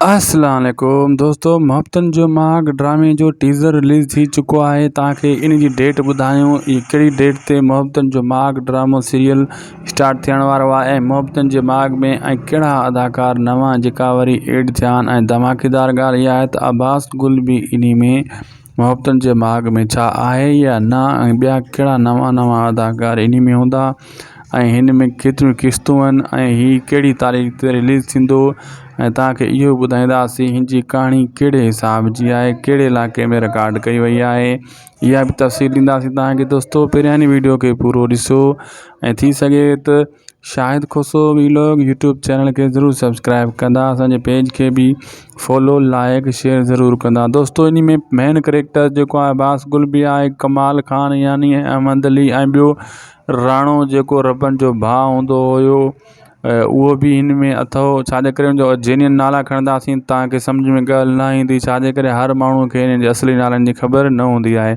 السلام عليڪم دوستو محبتن جو ماڳ ڊرامي جو ٽيزر رليز ٿي چڪو آهي توهان کي ان جي ڊيٽ ٻڌايون هي ڪهڙي ڊيٽ تي محبتن جو ماڳ ڊرامو سيريل اسٽارٽ ٿيڻ وارو آهي ۽ محبتن جي ماڳ ۾ ۽ ڪهڙا اداڪار نوان جيڪا وري ايڊ ٿيا آهن ۽ ڌماڪيدار ڳالهه اها آهي ته عباس گل به انهي ۾ محبتن جي ماڳ ۾ ڇا آهي يا نه ۽ ٻيا ڪهڙا نوان نوان اداڪار انهي ۾ هوندا ۽ هن ۾ ڪيتريون قسطون آهن ۽ هي ڪهڙي تاريخ تي رليز ٿيندو ۽ توهان کي اهو به ٻڌائينداسي هن جي ڪهاڻي ڪهڙي حساب جي آهي ڪهڙي علائقي ۾ رڪارڊ ڪئي وئي آهي اها به تفصيل ڏينداسي توهان کي دوستو پهريان هن وڊيو کي پورو ڏسو ۽ ٿي سگهي ته Shahid Khoso vlog YouTube channel کي ضرور سبسڪرائب ڪندا اسان جي پيج کي به فالو لائڪ شيئر ضرور ڪندا دوستو اني ۾ مين ڪريڪٽر جيڪو آهي باس گل بي آهي ڪمال خان يعني احمد علي ۽ ٻيو راڻو جيڪو ربن جو ڀاء هوندو هيو اهو به ان ۾ اٿو ڇاجي ڪري ان جو جينين نالا کڻنداسين تانڪي سمجھ ۾ ڳالھ نه ايندي ڇاجي ڪري هر ماڻهو کي ان جي اصلي نالن جي خبر نه هوندي آهي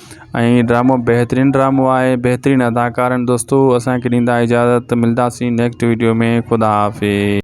۽ هي ڊرامو بهترين ڊرامو آهي بهترين اداڪار آهن دوستو اسان کي ڏيندا اجازت ملداسين نيڪسٽ ويڊيو ۾ خدا حافظ